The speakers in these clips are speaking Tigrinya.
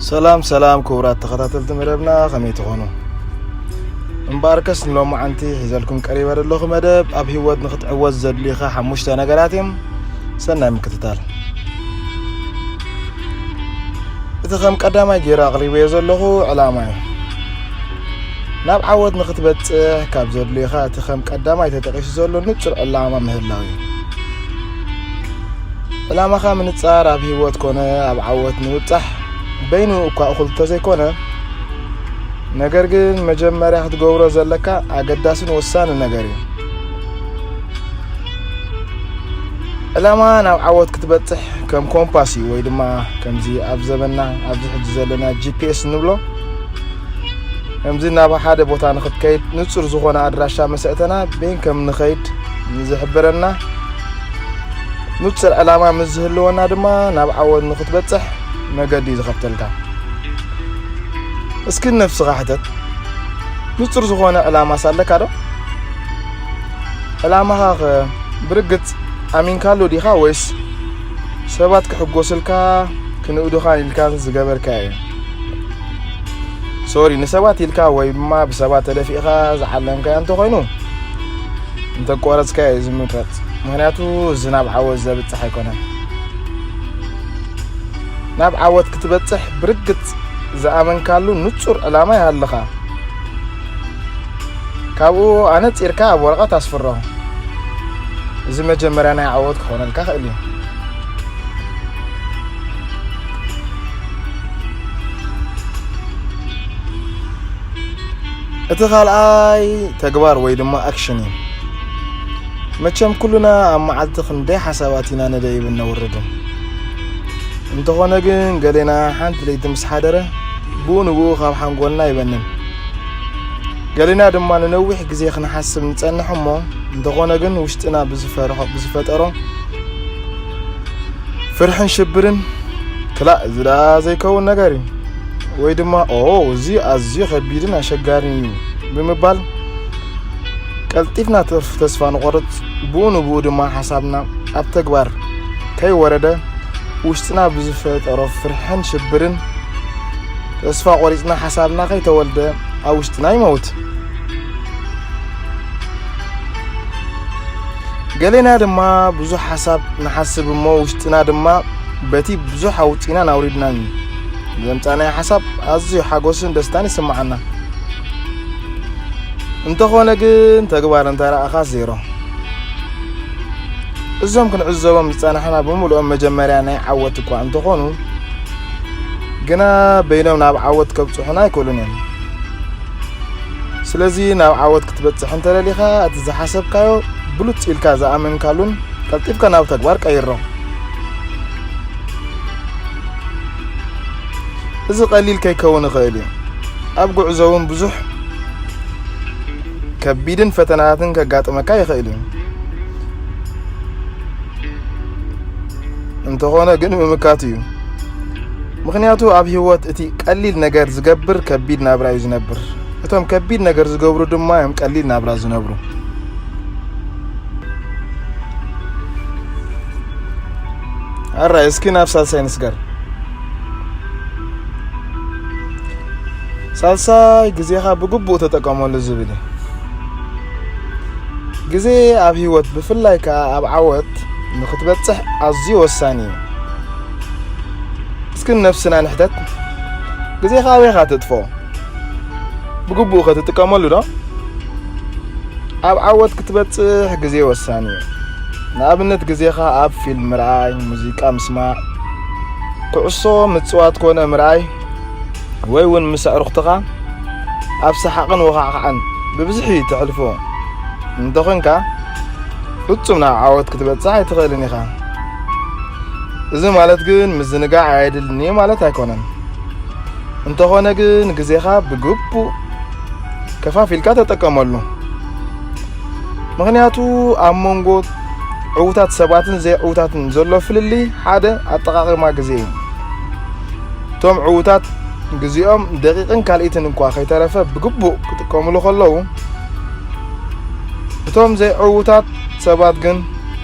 ሰላም ሰላም ክቡራት ተኸታተልቲ መደብና ከመይ ትኾኑ እምበኣርከስ ንሎማዓንቲ ሒዘልኩም ቀሪበ ዘለኹ መደብ ኣብ ህይወት ንክትዕወት ዘድልዩኻ ሓሙሽተ ነገራት እዮም ሰናይ ምክትታል እቲ ከም ቀዳማይ ገይረ ኣቕሪበዮ ዘለኹ ዕላማ እዩ ናብ ዓወት ንክትበፅሕ ካብ ዘድልዩኻ እቲ ከም ቀዳማይ ተጠቂሱ ዘሎ ንፁር ዕላማ ምህላው እዩ ዕላማኻ ምንጻር ኣብ ህይወት ኮነ ኣብ ዓወት ንምብጻሕ በይኑ እኳ እኹል እንተዘይኮነ ነገር ግን መጀመርያ ክትገብሮ ዘለካ ኣገዳስን ወሳኒ ነገር እዩ ዕላማ ናብ ዓወት ክትበጽሕ ከም ኮምፓስ እዩ ወይ ድማ ከምዚ ኣብ ዘበና ኣብዚ ሕጂ ዘለና ጂፒኤስ ንብሎ ከምዚ ናብ ሓደ ቦታ ንክትከይድ ንጹር ዝኾነ ኣድራሻ መሰእተና ቤን ከም ንኸይድ ንዝሕብረና ንጹር ዕላማ ምስ ዝህልወና ድማ ናብ ዓወት ንኽትበጽሕ መገዲ ዝኸፍተልካ እስኪ ነፍስኻ ሕተት ንጹር ዝኾነ ዕላማ ሳለካ ዶ ዕላማኻ ኸ ብርግጽ ኣሚንካሉ ዲኻ ወይስ ሰባት ክሕጎስልካ ክንእዱኻ ኢልካ ዝገበርካዮ ሶሪ ንሰባት ኢልካ ወይ ድማ ብሰባት ተደፊእኻ ዝዓለምካዮ እንተኾይኑ እንተቋረፅካዮ እዩ ዝምረፅ ምክንያቱ እዚ ናብ ዓወት ዘብፅሕ ኣይኮነን ናብ ዓወት ክትበፅሕ ብርግፅ ዝኣመንካሉ ንፁር ዕላማ ይሃልኻ ካብኡ ኣነፂርካ ኣብ ወረቐት ኣስፍሮ እዚ መጀመርያ ናይ ዓወት ክኾነልካ ክእል እዩ እቲ ካልኣይ ተግባር ወይ ድማ ኣክሽን እዩ መቸም ኩሉና ኣብ መዓልቲ ክንደይ ሓሳባት ኢና ነደይብን ነውርድን እንተኾነ ግን ገሌና ሓንቲ ለይቲ ምስ ሓደረ ብኡ ንብኡ ካብ ሓንጎልና ይበንን ገሌና ድማ ንነዊሕ ግዜ ክንሓስብ ንጸንሕ እሞ እንተኾነ ግን ውሽጥና ብዝፈርሖ ብዝፈጠሮ ፍርሕን ሽብርን ክላእ እዚ ደኣ ዘይከውን ነገር እዩ ወይ ድማ ኦ እዚ ኣዝዩ ከቢድን ኣሸጋሪን እዩ ብምባል ቀልጢፍና ተስፋ ንቆርፅ ብኡ ንብኡ ድማ ሓሳብና ኣብ ተግባር ከይወረደ ውሽጥና ብዝፈጠሮ ፍርሕን ሽብርን ተስፋ ቆሪፅና ሓሳብና ከይተወልደ ኣብ ውሽጥና ይመውት ገሌና ድማ ብዙሕ ሓሳብ ንሓስብ እሞ ውሽጥና ድማ በቲ ብዙሕ ኣውፂናን ኣውሪድናን እዩ ዘምፃናዮ ሓሳብ ኣዝዩ ሓጎስን ደስታን ይስምዓና እንተኾነ ግን ተግባር እንተረኣኻ ዜሮ እዞም ክንዕዘቦም ዝፀናሕና ብምልኦም መጀመርያ ናይ ዓወት እኳ እንተኾኑ ግና በይኖም ናብ ዓወት ከብፅሑና ኣይክእሉን እዮም ስለዚ ናብ ዓወት ክትበጽሕ እንተ ደሊኻ፣ እቲ ዝሓሰብካዮ ብሉጽ ኢልካ ዝኣመንካሉን ቀልጢፍካ ናብ ተግባር ቀይሮ። እዚ ቀሊል ከይከውን ይኽእል እዩ። ኣብ ጉዕዞ እውን ብዙሕ ከቢድን ፈተናታትን ከጋጥመካ ይኽእል እዩ። እንተኾነ ግን ምምካቱ እዩ። ምክንያቱ ኣብ ህይወት እቲ ቀሊል ነገር ዝገብር ከቢድ ናብራ እዩ ዝነብር። እቶም ከቢድ ነገር ዝገብሩ ድማ እዮም ቀሊል ናብራ ዝነብሩ። ኣራይ እስኪ ናብ ሳልሳይ ንስገር። ሳልሳይ ግዜኻ ብግቡእ ተጠቀመሉ ዝብል እዩ። ግዜ ኣብ ህይወት ብፍላይ ከዓ ኣብ ዓወት ንክትበፅሕ ኣዝዩ ወሳኒ እዩ። እስኪ ነብስና ንሕተት፣ ግዜኻ ኣበይካ ተጥፍኦ? ብግቡእ ከትጥቀመሉ ዶ ኣብ ዓወት ክትበጽሕ ግዜ ወሳኒ እዩ ንኣብነት ግዜኻ ኣብ ፊልም ምርኣይ ሙዚቃ ምስማዕ ኩዕሶ ምፅዋት ኮነ ምርኣይ ወይ እውን ምስ ኣዕሩኽትኻ ኣብ ሰሓቕን ወኻዕኻዕን ብብዝሒ ተሕልፎ እንተኾንካ ፍጹም ናብ ዓወት ክትበጽሕ ኣይትኽእልን ኢኻ እዚ ማለት ግን ምዝንጋዕ ኣየድልኒ ማለት ኣይኮነን እንተኾነ ግን ግዜኻ ብግቡእ ከፋፊልካ ተጠቀመሉ። ምክንያቱ ኣብ መንጎ ዕውታት ሰባትን ዘይዕውታትን ዘሎ ፍልልይ ሓደ ኣጠቃቅማ ግዜ እዩ። እቶም ዕውታት ግዜኦም ደቂቅን ካልኢትን እንኳ ከይተረፈ ብግቡእ ክጥቀምሉ ከለዉ እቶም ዘይዕውታት ሰባት ግን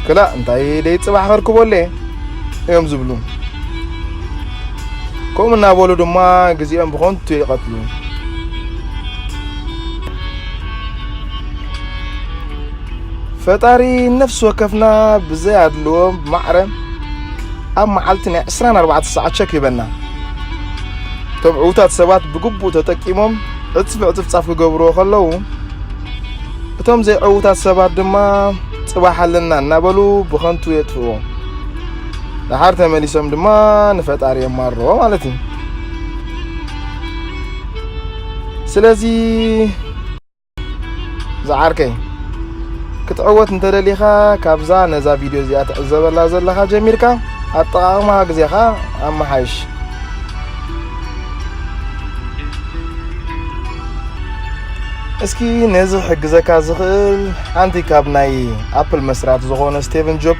ክላእ እንታይ ደይ ጽባሕ ከርክበሉ እዮም ዝብሉ። ከምኡ እናበሉ ድማ ግዜኦም ብኸንቱ ይቐትሉ። ፈጣሪ ነፍሲ ወከፍና ብዘይ ኣድልዎ ማዕረ ኣብ መዓልቲ ናይ 24 ሰዓት ቸክ ይበና እቶም ዕውታት ሰባት ብግቡእ ተጠቂሞም ዕፅፊ ዕፅፍፃፍ ክገብርዎ ከለዉ እቶም ዘይዕውታት ሰባት ድማ ፅባሕ ኣለና እናበሉ ብኸንቱ የጥፍዎ ደሓር ተመሊሶም ድማ ንፈጣሪ የማርዎ ማለት እዩ ስለዚ ዝዓርከይ ክትዕወት እንተደሊኻ ካብዛ ነዛ ቪድዮ እዚኣ ትዕዘበላ ዘለኻ ጀሚርካ ኣጠቓቕማ ግዜኻ ኣመሓይሽ እስኪ ነዚ ሕግዘካ ዝኽእል ሓንቲ ካብ ናይ ኣፕል መስራቲ ዝኾነ ስቴቨን ጆብ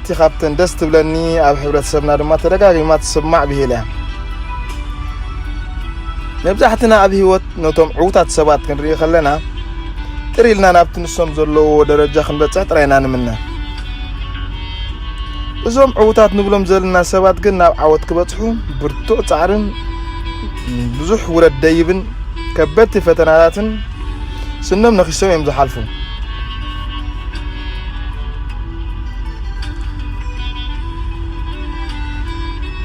እቲ ካብተን ደስ ትብለኒ ኣብ ሕብረተሰብና ድማ ተደጋጊማ ትስማዕ ብሂል እያ መብዛሕትና ኣብ ህይወት ነቶም ዕውታት ሰባት ክንርኢ ከለና ጥር ኢልና ናብቲ ንሶም ዘለዎ ደረጃ ክንበፅሕ ጥራይና ንምነ እዞም ዕውታት ንብሎም ዘለና ሰባት ግን ናብ ዓወት ክበጽሑ ብርቱዕ ጻዕርን ብዙሕ ውረድ ደይብን ከበድቲ ፈተናታትን ስኖም ነኺሶም እዮም ዝሓልፉ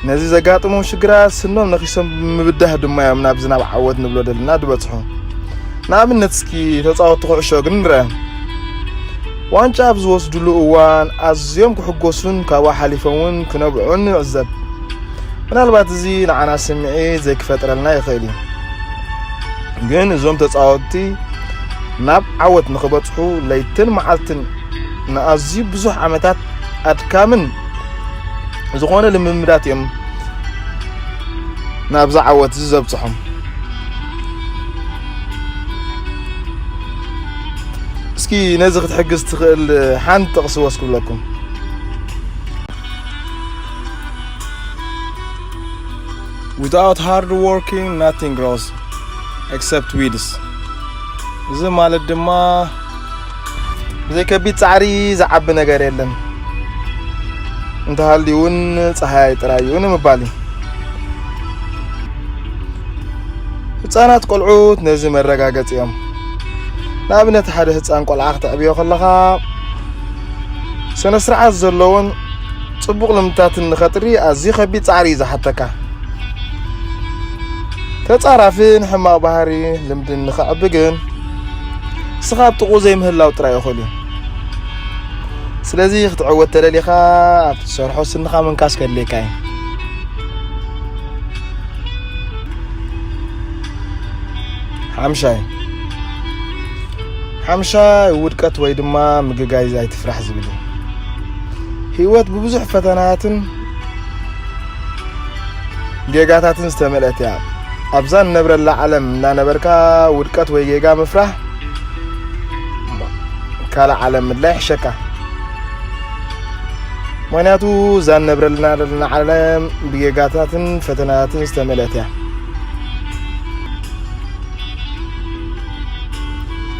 ነዚ ዘጋጥሞም ሽግራት ስኖም ነኺሶም ብምብዳህ ድማ እዮም ናብ ዝናብ ዓወት ንብሎ ደልና ዝበጽሑ ንኣብነት እስኪ ተፃወቲ ኩዕሾ ግን ንርአ ዋንጫ ኣብ ዝወስድሉ እዋን ኣዝዮም ክሕጎሱን ካብኡ ሓሊፎም እውን ክነብዑን ንዕዘብ ምናልባት እዚ ንዓና ስምዒት ዘይክፈጥረልና ይኽእል እዩ ግን እዞም ተፃወትቲ ናብ ዓወት ንኽበጽሑ ለይትን መዓልትን ንኣዝዩ ብዙሕ ዓመታት ኣድካምን ዝኾነ ልምምዳት እዮም ናብዛ ዓወት እዚ ዘብጽሖም። እስኪ ነዚ ክትሕግዝ ትኽእል ሓንቲ ጥቕሲ ወስ ክብለኩም Without hard working nothing grows except weeds እዚ ማለት ድማ ብዘይ ከቢድ ጻዕሪ ዝዓቢ ነገር የለን እንተሃልዩ እውን ፀሓይ ጥራይ እዩ ንምባል እዩ ህፃናት ቆልዑት ነዚ መረጋገፂ እዮም ንኣብነት ሓደ ህፃን ቆልዓ ክተዕብዮ ከለኻ ስነ ስርዓት ዘለዎን ፅቡቕ ልምድታትን ንኸጥሪ ኣዝዩ ከቢድ ፃዕሪ እዩ ዝሓተካ ተጻራፊን ሕማቕ ባህሪ ልምድን ንኸዕቢ ግን ንስኻ ኣብ ጥቕኡ ዘይምህላው ጥራይ እኹል እዩ ስለዚ ክትዕወት ተደሊኻ ኣብ ትሰርሖ ስንኻ ምንካስ ከድልየካ እዩ ሓምሻይ ሓምሻይ ውድቀት ወይ ድማ ምግጋይ ኣይትፍራሕ ዝብል እዩ ህይወት ብብዙሕ ፈተናትን ጌጋታትን ዝተመልአት እያ ኣብዛ ንነብረላ ዓለም እናነበርካ ውድቀት ወይ ጌጋ ምፍራህ ካልእ ዓለም ምድላይ ይሕሸካ ምክንያቱ እዛ ንነብረልና ዘለና ዓለም ብጌጋታትን ፈተናታትን ዝተመልአት እያ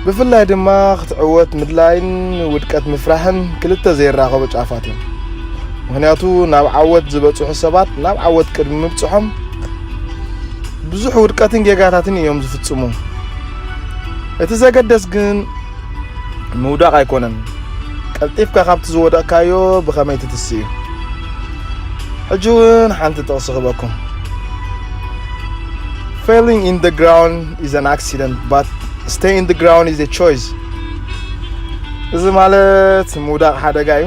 ብፍላይ ድማ ክትዕወት ምድላይን ውድቀት ምፍራሕን ክልተ ዘይራኸቡ ጫፋት እዮም ምክንያቱ ናብ ዓወት ዝበጽሑ ሰባት ናብ ዓወት ቅድሚ ምብጽሖም ብዙሕ ውድቀትን ጌጋታትን እዮም ዝፍጽሙ። እቲ ዘገደስ ግን ምውዳቕ ኣይኮነን፣ ቀልጢፍካ ካብቲ ዝወደቕካዮ ብኸመይ ትትስ እዩ። ሕጂ እውን ሓንቲ ጥቕሲ ክበኩም Failing in the ground is an accident, but stay in the ground is a choice እዚ ማለት ምውዳቕ ሓደጋ እዩ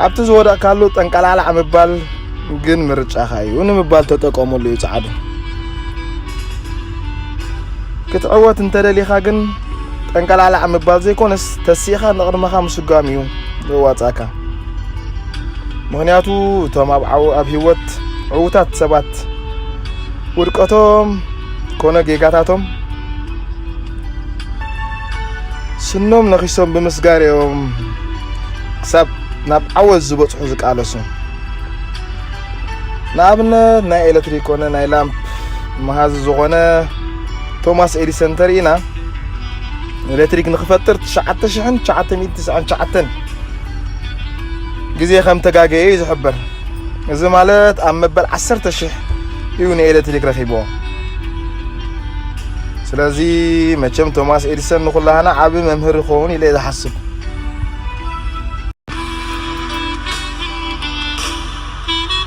ኣብቲ ዝወደቕካሉ ጠንቀላዕላዕ ምባል ግን ምርጫኻ እዩ ንምባል ተጠቀሙሉ እዩ ጻዕዱ ክትዕወት እንተደሊኻ ግን ጠንቀላዕላዕ ምባል ዘይኮነስ ተሲእኻ ንቕድመኻ ምስጓም እዩ ዘዋጻእካ ምክንያቱ እቶም ኣብ ዓው ኣብ ህይወት ዕውታት ሰባት ውድቀቶም ኮነ ጌጋታቶም ስኖም ነኺሶም ብምስጋር እዮም ክሳብ ናብ ዓወት ዝበፅሑ ዝቃለሱ ንኣብነት ናይ ኤሌክትሪክ ኮነ ናይ ላምፕ መሃዚ ዝኾነ ቶማስ ኤዲሰን እንተርኢና ኤሌክትሪክ ንክፈጥር 9999 ግዜ ከም ተጋገየ እዩ ዝሕበር እዚ ማለት ኣብ መበል 10 ሽሕ እዩ ንኤሌክትሪክ ረኺብዎ ስለዚ መቸም ቶማስ ኤዲሰን ንኹላህና ዓቢ መምህር ይኸውን ኢለ ዝሓስብ